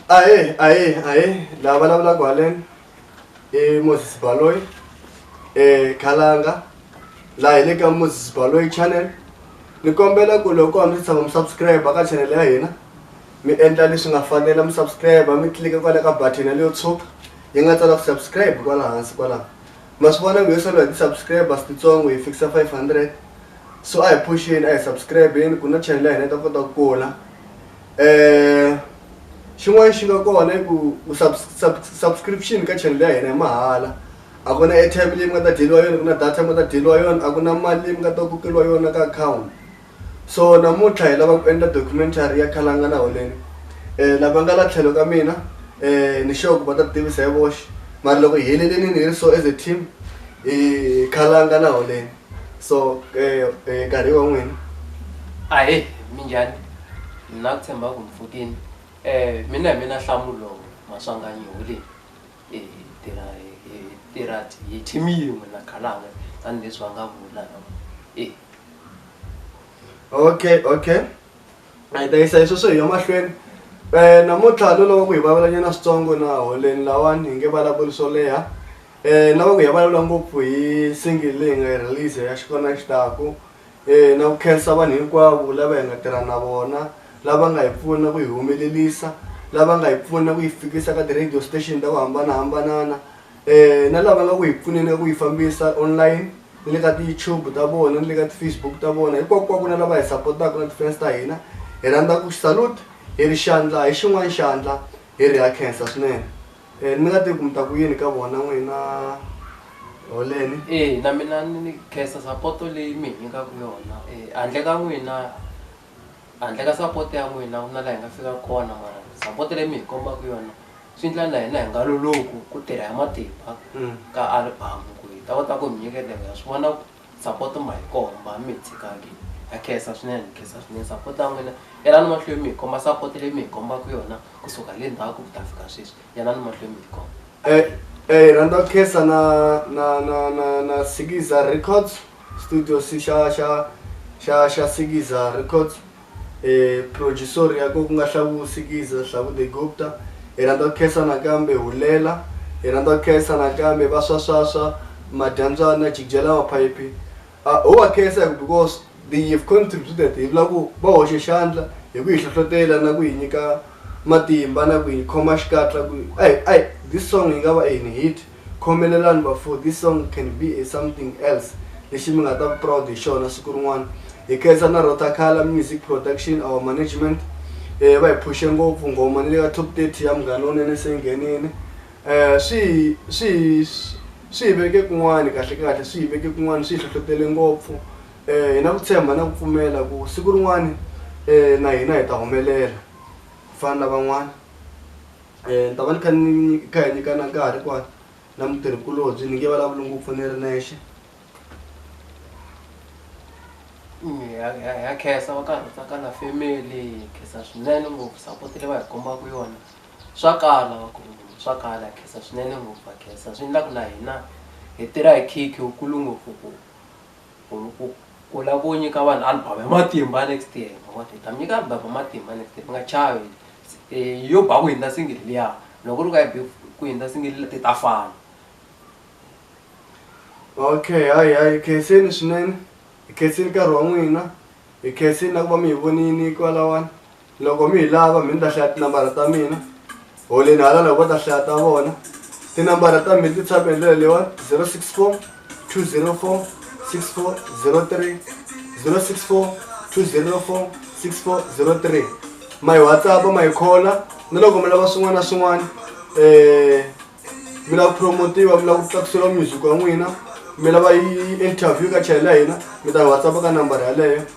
ahe ahe ahe lava vulavulaka haleni i moses baloyi um khalanga laha hi le ka moses baloyi channel ni kombela ku loko hambi si tshama mi subscribe ka channel ya hina mi endla leswi nga fanela mi subscribe mi tlilika kwala ka button yaleyo tshuka yi nga tsala ku subscribe kwala hansi kwalaho ma swi vona nghohe solo hi ti-subscribers titsongo hi fikisa five hundred so a hi phuxeni a hi subscribe-ni ku na channel ya hina yi ta kota ku kula um xin'wana xi nga kona i ku subscription ka channel ya hina hi mahala a ku na airtime leyi mi nga ta dyeliwa yona ku na data yi nga ta dyeliwa yona a ku na mali leyi mi nga ta kokeriwa yona ka account. So namuntlha hi lava ku endla documentary ya Khalangana Holeni. Eh lava nga la tlhelo ka mina eh ni sure ku va ta tivisa hi voxe. Mara loko hi helelini ni ri so as a team hi Khalangana Holeni. So eh nkarhi wa n'wina. Ahee minjhani mina ku tshemba ku mi pfukini mina hi mina Nhlamulo Maswanganyi Holeni. Hi tirha hi hi tirha hi team yin'we na Galange tanihileswi va nga vula e. Okay okay a hi ta yisa leswi swo hi ya mahlweni um namuntlha no lava ku hi vulavulanyana switsongo na holeni lawani hi nge vulavuli swo leha um lava ku hi ya vulavula ngopfu hi single leyi nga yi release ya xikona xi taku. na ku khensa vanhu hinkwavo lava hi nga tirha na vona lava nga hi pfuna ku yi humelelisa lava nga hi pfuna ku yi fikisa ka ti-radio station ta ku hambanahambanana um na lava nga ku hi pfuneni ka ku yi fambisa online ni le ka ti-YouTube ta vona ni le ka ti-Facebook ta vona hinkwakunkwaku na lava hi sapotaka na ti-fans ta hina hi rhandza ku salute hi ri xandla hi xin'wana xandla hi ri ha khensa swinene. Eh, mi nga tivi ku mi ta ku yini ka vona n'wina holeni e na mina ni khensa sapoto leyi mi hi nyikaka yona e handle ka n'wina handle ka sapoto ya n'wina ku na laha hi nga fika kona mara sapoto leyi mi hi kombaka yona swi ndla na hina hi nga loloku ku tirha hi matimba ka album ku hi ta kota ku mi nyiketa hi nga swi vona ku Sapoto ma hi komba mi hi tshikaka ha khensa swinene ni khensa swinene sapoto ya n'wina yelani mahlweni mi hi komba sapoto leyi mi hi kombaka yona kusuka le ndzhaku ku ta fika sweswi yelani mahlweni mi hi komba eh, eh, rhandza ku khensa na na na na na sikiza records studio xa xa xa xa sikiza records e Phrojuxori ya ko ku nga Hlavu Sikiza, Hlavu de Gupta, hi rhandza ku khensa nakambe Hulela, hi rhandza ku khensa nakambe Vaswaswaswa, Madyandzana, Jigjela Maphayiphi. A ho va khensa hi ku because they have contributed hi vula ku va hoxe xandla hi ku hi hlohlotela na ku hi nyika matimba na ku hi khoma xikatla ku a hi a hi this song yi nga va a hi ni hit. Khomelelani bafo this song can be a something else lexi mi nga ta va proud hi xona siku rin'wana. Hi khensa na Rotakhala Music Production our management va hi phushe ngopfu nghoma ni le ka top 30 ya Munghana Lonene se yi nghenini swi hi swi hi swi hi veke kun'wani kahle kahle swi hi veke kun'wani swi hi hlohlotele ngopfu hi na ku tshemba na ku pfumela ku siku rin'wani na hina hi ta humelela ku fana na van'wana. um ni ta va ni kha ni kha hi nyikana nkarhi kwa na mutirhikulobye ni nge vulavuli ngopfu ni ri nexe ya khensa va karhi tsaka na family hi khensa swinene ngopfu support leyi va hi kombaka yona swa kala swa kala ha khensa swinene ngopfu ha khensa swi endlaku na hina hi tirha hi khikhi wukulu ngopfu ku ku ku lava ku nyika vanhu album ya matimba next year hi ta mi nyika album ya matimba next year mi nga chavi. E, yo ba ku hindza singili liya loko ri ka yi be ku hindza singili ti ta fana okay hayi hayi hi khenseni swinene hi khenseni nkarhi wa n'wina hi khenseni na ku va mi hi vonini kwalawani loko mi hi lava mi ni ta hlaya tinambara ta mina holeni hala loko va ta hlaya ta vona tinambara ta mina ti tshame hi ndlela leyiwani zero six four 204 6403 064 204 6403 ma yi whatsapp ma yi khola na loko mi lava swin'wana na swin'wana um mi lava ku promotiwa mi lava ku tlakuseriwa music wa n'wina mi lava yi interview ka chayela hina mi ta whatsapp ka nambara yaleyo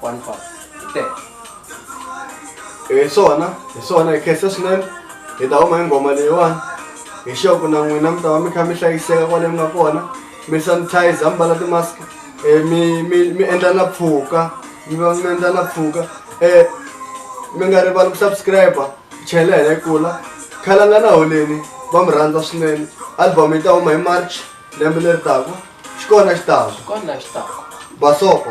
one five ten hi swona hi swona hi khensa swinene hi ta huma hi nghoma leyiwani hi xoku na n'wina mi ta va mi kha mi hlayiseka kwale mi nga kona mi sanitizer mi mbala timask um mi mi mi endla na pfuka mi va mi endla na pfuka um mi nga rivali ku subscribe chela hina yi kula khalanga na holeni va mi rhandza swinene album yi ta huma hi march lembe leri taka xi kona xi taka xi kona xi taka basoko